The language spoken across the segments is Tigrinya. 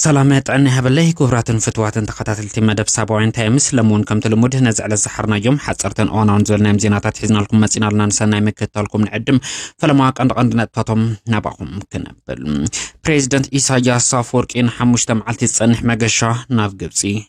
ሰላም ጥዕና ይሃበለይ ክቡራትን ፍትዋትን ተኸታተልቲ መደብ ሳባውያን ታይምስ ሎሚ እውን ከምቲ ልሙድ ነዚ ዕለት ዝሓርናዮም ሓፀርትን እዋናውን ዝበልናዮም ዜናታት ሒዝናልኩም መፂና ኣለና ንሰናይ ምክትታልኩም ንዕድም ፈለማ ቀንዲ ቀንዲ ነጥብታቶም ናባኹም ክነብል ፕሬዚደንት ኢሳያስ ኣፈወርቂ ንሓሙሽተ መዓልቲ ዝፀንሕ መገሻ ናብ ግብፂ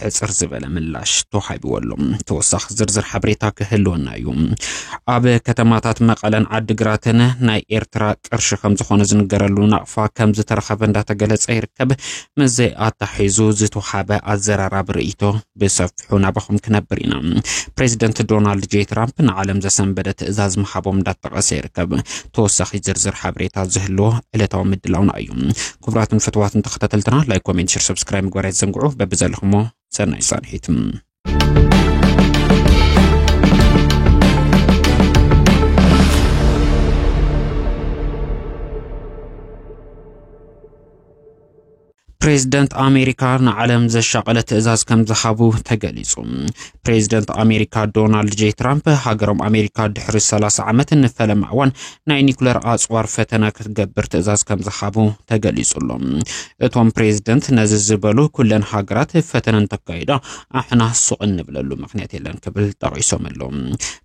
ሕጽር ዝበለ ምላሽ ተዋሂብዎ ኣሎ። ተወሳኺ ዝርዝር ሓበሬታ ክህልወና እዩ። ኣብ ከተማታት መቐለን ዓዲግራትን ናይ ኤርትራ ቅርሺ ከም ዝኾነ ዝንገረሉ ናቕፋ ከም ዝተረኸበ እንዳተገለጸ ይርከብ። ምስዚ ኣታሒዙ ዝተውሃበ ኣዘራራቢ ርእይቶ ብሰፊሑ ናባኹም ክነብር ኢና። ፕሬዚደንት ዶናልድ ጄ ትራምፕ ንዓለም ዘሰንበደ ትእዛዝ ምሃቦም እንዳተጠቐሰ ይርከብ። ተወሳኺ ዝርዝር ሓበሬታ ዝህልዎ ዕለታዊ ምድላውና እዩ። ክቡራትን ፍትዋትን ተኸታተልትና ላይክ ኮሜንት ሽር ሰብስክራይብ ምግባር ኣይትዘንግዑ በብዘለኹሞ ሰናይ ጻንሒት ፕሬዝደንት ኣሜሪካ ንዓለም ዘሻቐለ ትእዛዝ ከም ዝሃቡ ተገሊጹ። ፕሬዚደንት ኣሜሪካ ዶናልድ ጄ ትራምፕ ሃገሮም ኣሜሪካ ድሕሪ 30 ዓመት ንፈለማ እዋን ናይ ኒኩለር ኣፅዋር ፈተነ ክትገብር ትእዛዝ ከም ዝሃቡ ተገሊጹ ኣሎ። እቶም ፕሬዚደንት ነዚ ዝበሉ ኩለን ሃገራት ፈተነ እንተካይዳ ኣሕና ሱቕ እንብለሉ ምክንያት የለን ክብል ጠቒሶም ኣለዉ።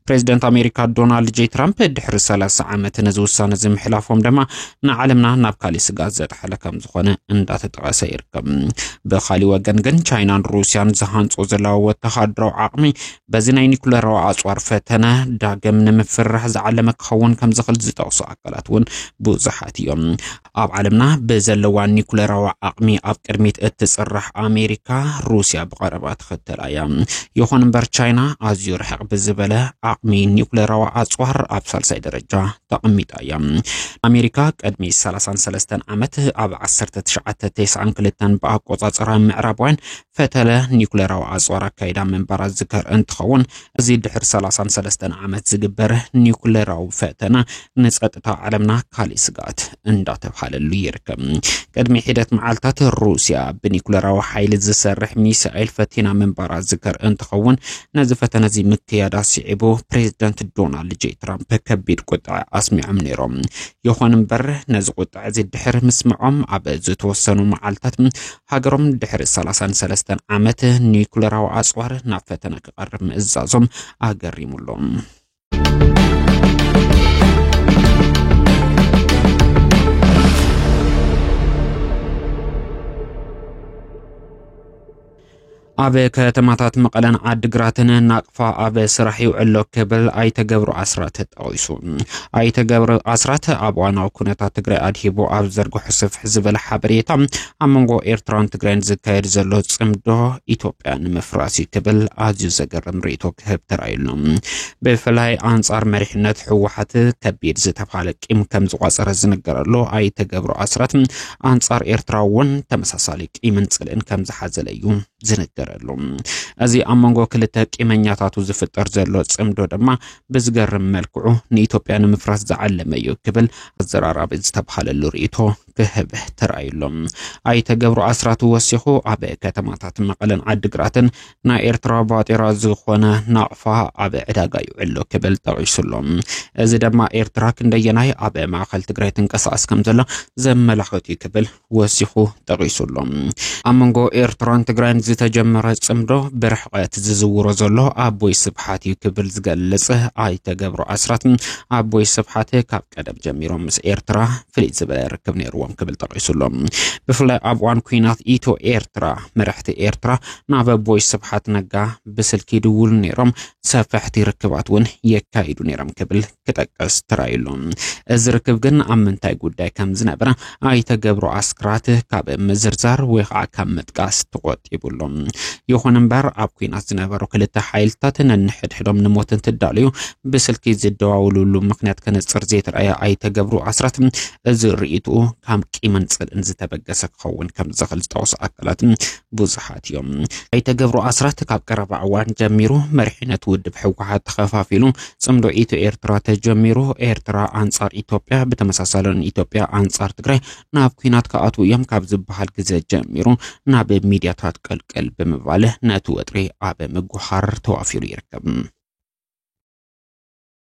ፕሬዚደንት ኣሜሪካ ዶናልድ ጄ ትራምፕ ድሕሪ 30 ዓመት ነዚ ውሳነ እዚ ምሕላፎም ድማ ንዓለምና ናብ ካሊእ ስጋት ዘጥሓለ ከም ዝኾነ እንዳተጠቐሰ ይርከብ። ብካሊእ ወገን ግን ቻይናን ሩስያን ዝሃንጾ ዘለዋ ወተሃደራዊ ዓቕሚ በዚ ናይ ኒኩለራዊ ኣጽዋር ፈተነ ዳግም ንምፍርራሕ ዝዓለመ ክኸውን ከም ዝኽእል ዝጠቕሱ ኣካላት እውን ብዙሓት እዮም። ኣብ ዓለምና ብዘለዋ ኒኩለራዊ ዓቕሚ ኣብ ቅድሚት እትፅራሕ ኣሜሪካ ሩስያ ብቐረባ ትኸተላ እያ። ይኹን እምበር ቻይና ኣዝዩ ርሕቕ ብዝበለ ዓቕሚ ኒኩለራዊ ኣፅዋር ኣብ ሳልሳይ ደረጃ ተቐሚጣ እያ። ኣሜሪካ ቅድሚ 33 ዓመት ኣብ 1992 ብኣቆፃፅራ ምዕራባውያን ፈተነ ኒኩሌራዊ ኣጽዋር ኣካይዳ ምንባራ ዝዝከር እንትኸውን እዚ ድሕሪ ሰላሳን ሰለስተን ዓመት ዝግበር ኒኩሌራዊ ፈተነ ንጸጥታ ዓለምና ካሊእ ስግኣት እንዳተብሃለሉ ይርከብ። ቅድሚ ሒደት መዓልታት ሩስያ ብኒኩሌራዊ ሓይሊ ዝሰርሕ ሚሳኤል ፈቲና ምንባራ ዝዝከር እንትኸውን ነዚ ፈተነ እዚ ምክያዳ ስዒቡ ፕሬዚደንት ዶናልድ ጄ ትራምፕ ከቢድ ቁጥዐ ኣስሚዖም ነይሮም። ይኹን እምበር ነዚ ቁጥዐ እዚ ድሕሪ ምስምዖም ኣብ ዝተወሰኑ መዓልታት ሃገሮም ድሕሪ ሰላሳን ሰለስተን ዓመት ኒኩለራዊ ኣጽዋር ናብ ፈተነ ክቐርብ ምእዛዞም ኣገሪሙ ኣሎ። ኣብ ከተማታት መቐለን ዓድግራትን ናቕፋ ኣብ ስራሕ ይውዕሎ ክብል ኣይተገብሩ ኣስራት ጠቒሱ ኣይተገብሩ ኣስራት ኣብ ዋናዊ ኩነታት ትግራይ ኣድሂቡ ኣብ ዘርግሑ ስፍሕ ዝበለ ሓበሬታ ኣብ መንጎ ኤርትራን ትግራይን ዝካየድ ዘሎ ፅምዶ ኢትዮጵያ ንምፍራስ እዩ ክብል ኣዝዩ ዘገርም ርእቶ ክህብ ተራእዩሎ ብፍላይ ኣንጻር መሪሕነት ህወሓት ከቢድ ዝተባሃለ ቂም ከም ዝቋፀረ ዝነገረሉ ኣይተገብሩ ኣስራት ኣንጻር ኤርትራ እውን ተመሳሳሊ ቂምን ጽልእን ከም ዝሓዘለ እዩ ዝንገረሉ። እዚ ኣብ መንጎ ክልተ ቂመኛታቱ ዝፍጠር ዘሎ ጽምዶ ድማ ብዝገርም መልክዑ ንኢትዮጵያ ንምፍራስ ዝዓለመ እዩ ክብል ኣዘራራቢ ዝተብሃለሉ ርእይቶ ክህብ ተራእዩሎም። ኣይተገብሩ ኣስራቱ ወሲኹ ኣብ ከተማታት መቐለን ዓዲግራትን ናይ ኤርትራ ባጤራ ዝኾነ ናቕፋ ኣብ ዕዳጋ ይውዕሎ ክብል ጠቒሱሎ እዚ ድማ ኤርትራ ክንደየናይ ኣብ ማእኸል ትግራይ ትንቀሳቐስ ከም ዘሎ ዘመላኽት እዩ ክብል ወሲኹ ጠቒሱሎ ኣብ መንጎ ኤርትራን ትግራይን ዝተጀመረ ጽምዶ ብርሕቐት ዝዝውሮ ዘሎ ኣቦይ ስብሓት እዩ ክብል ዝገልጽ ኣይተገብሮ ኣስራት ኣቦይ ስብሓት ካብ ቀደም ጀሚሮም ምስ ኤርትራ ፍልይ ዝበለ ርክብ ነይርዎም ክብል ጠቒሱሎ ብፍላይ ኣብ እዋን ኩናት ኢትዮ ኤርትራ መራሕቲ ኤርትራ ናብ ኣቦይ ስብሓት ነጋ ብስልኪ ይድውሉ ነይሮም፣ ሰፈሕቲ ርክባት እውን የካይዱ ነይሮም ክብል ክጠቅስ ተራእዩ ኣሎ። እዚ ርክብ ግን ኣብ ምንታይ ጉዳይ ከም ዝነበረ ኣይተ ገብሩ ኣስራት ካብ ምዝርዛር ወይ ከዓ ካብ ምጥቃስ ተቆጢቡ ኣሎ። ይኹን እምበር ኣብ ኩናት ዝነበሩ ክልተ ሓይልታት ነንሕድሕዶም ንሞት እንትዳለዩ ብስልኪ ዝደዋውሉሉ ምክንያት ከነፅር ዘይተረኣየ ኣይተ ገብሩ ኣስራት እዚ ርእይትኡ ካብ ቂምን ፅልእን ዝተበገሰ ክኸውን ከም ዝኽእል ዝጠቕሱ ኣካላት ብዙሓት እዮም። ኣይተ ገብሩ ኣስራት ካብ ቀረባ እዋን ጀሚሩ መሪሕነት ውድብ ህወሓት ተኸፋፊሉ ፅምዶ ኢትዮ ኤርትራ ተጀሚሩ ኤርትራ ኣንጻር ኢትዮጵያ ብተመሳሳሊ ንኢትዮጵያ ኣንጻር ትግራይ ናብ ኩናት ክኣትዉ እዮም ካብ ዝበሃል ግዘ ጀሚሩ ናብ ሚድያታት ቀልቀል ብምባል ነቲ ወጥሪ ኣብ ምጉሃር ተዋፊሩ ይርከብ።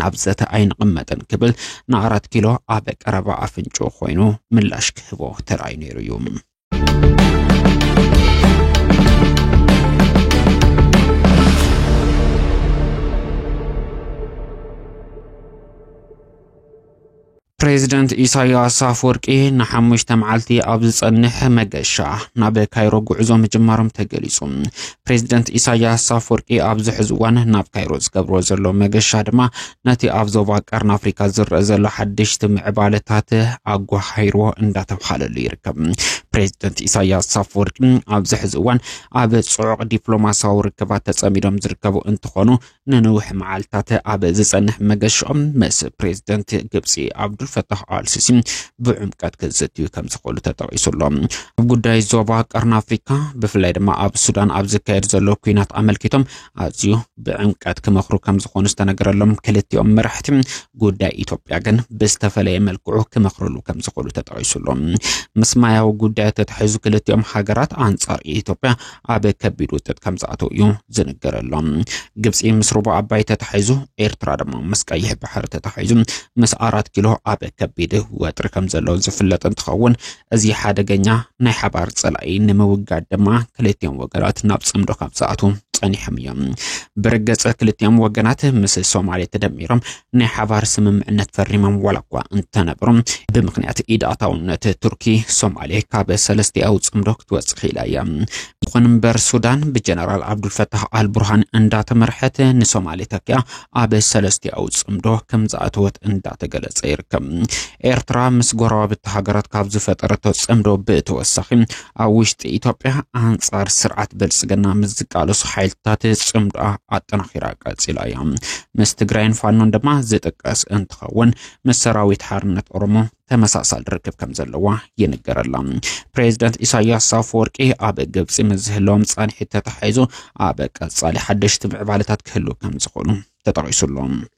ናብ ዘተ ኣይንቕመጥን ክብል ንኣራት ኪሎ ኣብ ቀረባ ኣፍንጮ ኮይኑ ምላሽ ክህቦ ተራእዩ ነይሩ እዩ። ፕሬዚደንት ኢሳያስ ኣፈወርቂ ንሓሙሽተ መዓልቲ ኣብ ዝጸንሕ መገሻ ናብ ካይሮ ጉዕዞ ምጅማሮም ተገሊጹ። ፕሬዚደንት ኢሳያስ ኣፈወርቂ ኣብዚ ሕዚ እዋን ናብ ካይሮ ዝገብርዎ ዘሎ መገሻ ድማ ነቲ ኣብ ዞባ ቀርኒ ኣፍሪካ ዝረአ ዘሎ ሓደሽቲ ምዕባለታት ኣጓሃይሮ እንዳተብሃለሉ ይርከብ። ፕሬዚደንት ኢሳያስ ኣፈወርቂ ኣብዚ ሕዚ እዋን ኣብ ጽዑቕ ዲፕሎማሲያዊ ርክባት ተጸሚዶም ዝርከቡ እንትኾኑ ንንውሕ መዓልትታት ኣብ ዝጸንሕ መገሻኦም ምስ ፕሬዚደንት ግብፂ ኣብዱልፈታህ ኣልሲሲ ብዕምቀት ክዝትዩ ከም ዝኽእሉ ተጠቒሱ ኣሎ። ኣብ ጉዳይ ዞባ ቀርኒ ኣፍሪካ ብፍላይ ድማ ኣብ ሱዳን ኣብ ዝካየድ ዘሎ ኩናት ኣመልኪቶም ኣዝዩ ብዕምቀት ክመኽሩ ከም ዝኾኑ ዝተነገረሎም ክልቲኦም መራሕቲ ጉዳይ ኢትዮጵያ ግን ብዝተፈለየ መልክዑ ክመኽርሉ ከም ዝኽእሉ ተጠቒሱሎም ምስ ማያዊ ጉዳያት ተታሒዙ ክልቲኦም ሃገራት ኣንጻር ኢትዮጵያ ኣብ ከቢድ ውጥጥ ከም ዝኣተው እዩ ዝንገረሎም። ግብፂ ምስ ሩባ ኣባይ ተታሒዙ፣ ኤርትራ ድማ ምስ ቀይሕ ባሕሪ ተታሒዙ ምስ ኣራት ኪሎ ኣብ ከቢድ ወጥሪ ከም ዘሎ ዝፍለጥ እንትኸውን እዚ ሓደገኛ ናይ ሓባር ፀላኢ ንምውጋድ ድማ ክልቲኦም ወገናት ናብ ፅምዶ ካብ ዝኣትው ጸኒሖም እዮም። ብርግጽ ክልቲኦም ወገናት ምስ ሶማሌ ተደሚሮም ናይ ሓባር ስምምዕነት ፈሪሞም ዋላ እኳ እንተነበሩ ብምክንያት ኢድ ኣታውነት ቱርኪ ሶማሌ ካብ ሰለስቲኣዊ ፅምዶ ክትወፅ ክኢላ እያ። ይኹን እምበር ሱዳን ብጀነራል ዓብዱልፈታህ ኣልቡርሃን እንዳተመርሐት ንሶማሌ ተኪያ ኣብ ሰለስቲኣዊ ፅምዶ ከም ዝኣተወት እንዳተገለፀ ይርከብ። ኤርትራ ምስ ጎረባብቲ ሃገራት ካብ ዝፈጠረቶ ፅምዶ ብተወሳኺ ኣብ ውሽጢ ኢትዮጵያ ኣንጻር ስርዓት ብልጽግና ምስ ዝቃለሱ ሓይልታት ጽምዶኣ ኣጠናኺራ ቀጺላ እያ። ምስ ትግራይን ፋኖን ድማ ዝጥቀስ እንትኸውን ምስ ሰራዊት ሓርነት ኦሮሞ ተመሳሳሊ ርክብ ከም ዘለዋ ይንገረላ። ፕሬዚደንት ኢሳያስ ኣፈወርቂ ኣብ ግብፂ ምስ ዝህለዎም ፃንሒት ተተሓሒዙ ኣብ ቀፃሊ ሓደሽቲ ምዕባለታት ክህሉ ከም ዝኾኑ ተጠቒሱሎም።